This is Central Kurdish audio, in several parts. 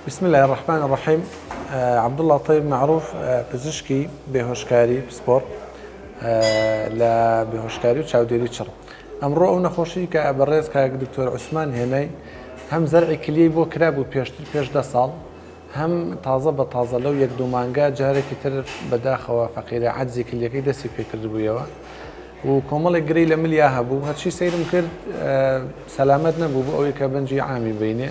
بسم اللە الرحمن الرحیم عەبدوڵڵا تەیب مەعروف پزیشکی بێهۆشکاری پسپۆڕ لە بێهۆشکاری و چاودێری چڕ ئەمڕۆ ئەو نەخۆشی کە بەڕێز کاک دکتۆر عوسمان هێنای هەم زەرعی کلیەی بۆ کرابوو پێشتر پێش دە ساڵ هەم تازە بە تازە لەو یەک دوو مانگە جارێکی تر بەداخەوە فەقیرە عەجزی کلیەکەی دەستی پێکردبوویەوە و کۆمەڵێک گرەی لە ملیا هەبوو هەرچی سەیرم کرد سەلامەت نەبوو بۆ ئەوەی کە بەنجی عامی بینێ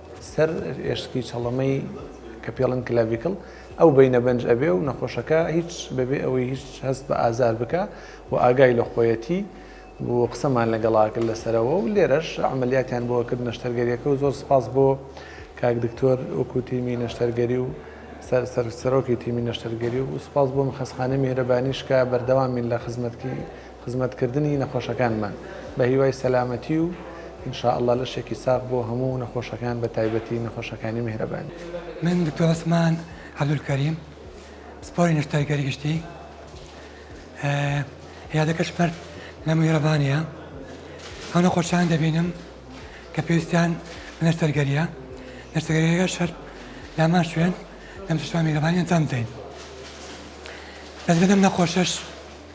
سەر ئێشکی چەڵەمەی کە پێڵن کلاڤیکل ئەو بینە بەنج ئەبێ و نەخۆشەکە هیچ بەبێ ئەوەی هیچ هەست بە ئازار بکە و ئاگای لە خۆیەتی بۆ قسەمان لەگەڵاکرد لەسەرەوە و لێرەش عملیاتیان بۆ کرد نەشتەرگەریەکە و زۆر سپاس بۆ کاک دکتۆر وەکو تیمی نەشتەرگەری و سەر سەرۆکی تیمی نەشتەرگەری و سپاس بۆ مخەسخانە میهرەبانیشکە بەردەوامین لە خزمەتکی خزمەتکردنی نەخۆشەکانمان بە هیوای سەلامەتی و ان شاء اللە لەشێکی ساغ بۆ هەموو نەخۆشەکان بە تایبەتی نەخۆشەکانی میهرەبانی. من دکتۆر عوسمان عبدالکریم پسپۆری نەشتەرگەری گشتی عیادەکەش پرد لە میهرەبانیە ئەو نەخۆشان دەبینم کە پێویستیان بە نەشتەرگەریە نەشتەرگەریەکەش هەر لامان شوێن لەم شەشوان میهرەبانی ئەنجام دەین بەس لەم نەخۆشەش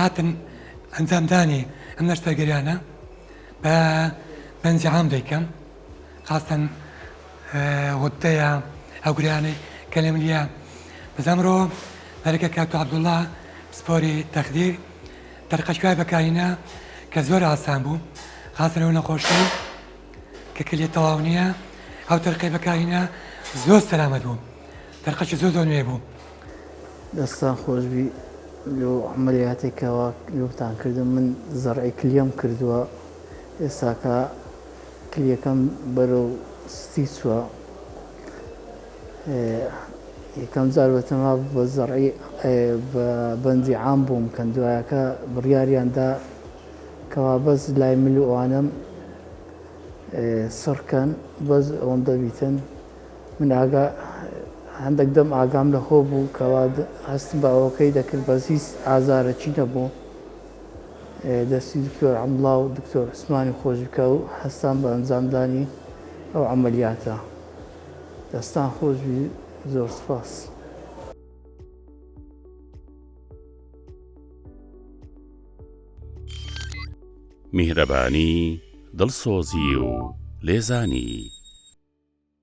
هاتن ئەنجامدانی ئەم نەشتەرگەریانە بە بەنجی عام دەیکەم خاستەن غدەیە ئەو گریانەی کە لە ملیە بەزەمرۆ دەرەکە کاتو عبدوڵا پسپۆری تەخدیر دەرقەشکای بەکارینە کە زۆر ئاسان بوو خاستن ئەو نەخۆشی کە کلی تەواو نییە ئەو تەرقی بەکارینە زۆر سەلامەت بوو دەرقەشی زۆر زۆر نوێ بوو دەستان خۆشبی لۆ عەمەلیاتێک کەوا لۆتان کردم من زەرعی کلیەم کردووە ئێستاکە کلیەکەم بەرەو ستی چوە یەکەم جار بەتەما بە زەرعی بە بەندی عام بووم کەم دوایەکە بڕیاریاندا کەوا بەس لای مل و ئەوانم سڕکەن بەس ئەوەندە بیتن من ئاگا هەندێک دەم ئاگام لە خۆ بوو کەوا هەستم بە ئەوەکەی دەکرد بەس هیچ ئازارەکی نەبوو دەستی دکتۆر ئەمڵا و دکتۆر عسمانی خۆش بکە و هەستان بە ئەنجامدانی ئەو عملیاتە دەستان خۆش بی زۆر سپاس. میهرەبانی، دڵسۆزی و لێزانی.